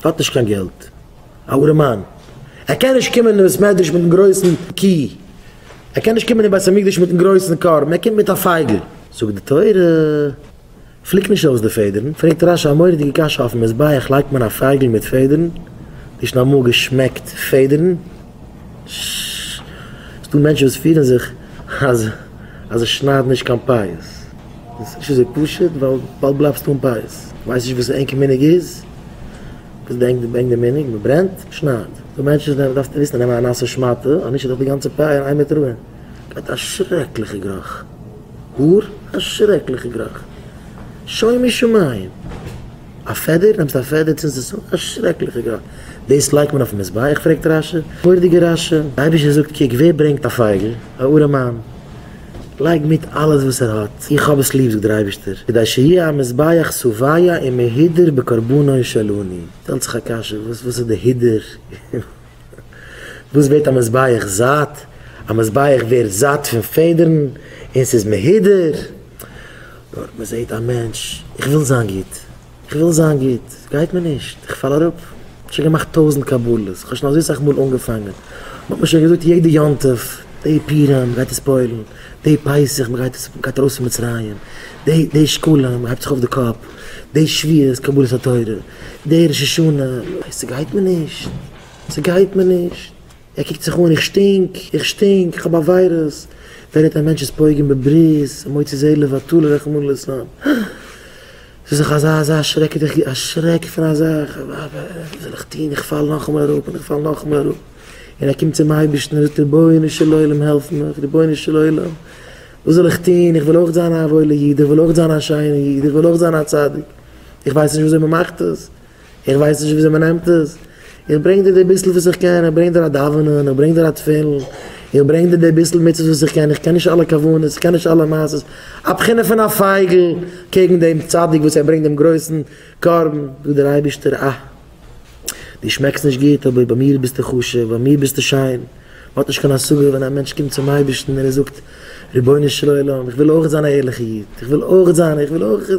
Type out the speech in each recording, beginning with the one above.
ער האט נישט קיין געלט, א ארעמאן, ער קען נישט קומען אין בית מדרש מיטן גרויסן קי, ער קען נישט קומען אין בית המקדש מיטן גרויסן קרבן, ער קומט מיט א פייגל. זאגט די תורה, פליק נישט אויס די פעדערן, פרעגט רשי א מורא'דיגע קשיא, אויפן מזבח לייגט מען א פייגל מיט פעדערן, דו האסט שוין אמאל געשמעקט פעדערן? ש. ס'דא מענטשן וואס פירן זיך אז אז זיי שניידן נישט קיין פאות איז נישט אזוי פשוט ווייל באלד בלייבסטו אן פאות. ווייסט נישט וואס ענקער מנהג איז? וואס די ענק בענק די מנהג? מ'ברענט? מ'שניידט? ס'דא מענטשן וואס דארפסטו וויסן נעם א נאסע שמאטע אנישט איז דאך די גאנצע פאה אין איין מיט רוהען גייט א שרעקליכע גראך האר א שרעקליכע גראך שוימי שמים. א פעדער נעמסט א פעדער צינדסט עס אן, א שרעקליכע גראד, דאס לייגט מען אויפן מזבח, פרעגט רשי, מורדיגע רשי, דער אייבישטער זאגט קוק ווער ברענגט א פייגל, א ארעמאן, לייג מיט אלעס וואס ער האט, איך האב עס ליב זאגט דער אייבישטער, כדי שיהיה המזבח סוביה ומהודר בקרבנו של אני, שטעלט זיך א קשיא, וואס איז די הודר? וואס ווערט א מזבח זאט? א מזבח ווערט זאט פון פעדערן און ס'איז מהודר. דארט מ'זעט א מענטש, איך וויל זיין גוט, איך וויל זיין גוט, גייט מיר נישט, איך פאל אראפ. שוין געמאכט טויזנט קבלות, כ'האב שוין אזוי סאך מאל אנגעפאנגען, מ'האט מיר שוין געזאגט יעדע יום טוב, די פורים מ'גייט עס פועל'ן, די פסח מ'גייט עס, מ'גייט ארויס פון מצרים, די שקלים מ'הייבט זיך אויף די קאפ, די שביעות קבלת התורה, דער ראש השנה, ניין ס'גייט מיר נישט, ס'גייט מיר נישט, ער קוקט זיך אן, איך שטינק, איך שטינק, כ'האב א וויירוס, ווער האט א מענטש'ס פוגם בברית, מוציא זה לבטלה רחמנא ליצלן, ס'איז דאך אזא אזא שרעקעדיגע א שרעק פון א זאך, וואס זאל איך טון, איך פאל נאכאמאל אראפ און איך פאל נאכאמאל אראפ, און ער קומט צום אייבערשטן און זאגט רבונו של עולם העלף מיך, רבונו של עולם וואס זאל איך טון, איך וויל אויך זיין א וואוילע איד, איך וויל אויך זיין א שיינע איד, איך וויל אויך זיין א צדיק. איך ווייס נישט וויאזוי מ'מאכט עס, איך ווייס נישט וויאזוי מ'נעמט עס, איך ברענג דיר די ביסל וואס איך קען, איך ברענג דיר א דאווענען, איך ברענג דיר א תפילין, איך ברענג דיר די ביסל מצוות וואס איך קען, איך קען נישט אלע כוונות, איך קען נישט אלע מעשות, א בחינה פון א פייגל קעגן דעם צדיק וואס ער ברענגט דעם גרויסן קרבן, זאגט דער אייבערשטער, אה! דו שמעקסט נישט גוט, אבער ביי מיר ביסטו חשוב, ביי מיר ביסטו שיין. מען האט נישט קיין השגה ווען א מענטש קומט צום אייבערשטן און ער זאגט, רבונו של עולם, איך וויל אויך זיין א ערליכע איד, איך וויל אויך זיין, איך וויל אויך,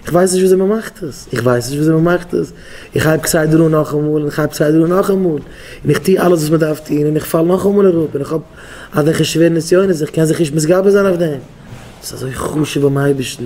איך ווייס נישט וויאזוי מען מאכט עס, איך ווייס נישט וויאזוי מען מאכט עס, איך הייב כסדר אן נאכאמאל און איך הייב כסדר אן נאכאמאל, און איך טו אלעס וואס מען דארף טון און איך פאל נאכאמאל אראפ און איך האב אזעלכע שווערע נסיונות, איך קען זיך נישט מתגבר זיין אויף דעם. דאס איז אזוי חשוב ביים אייבערשטן.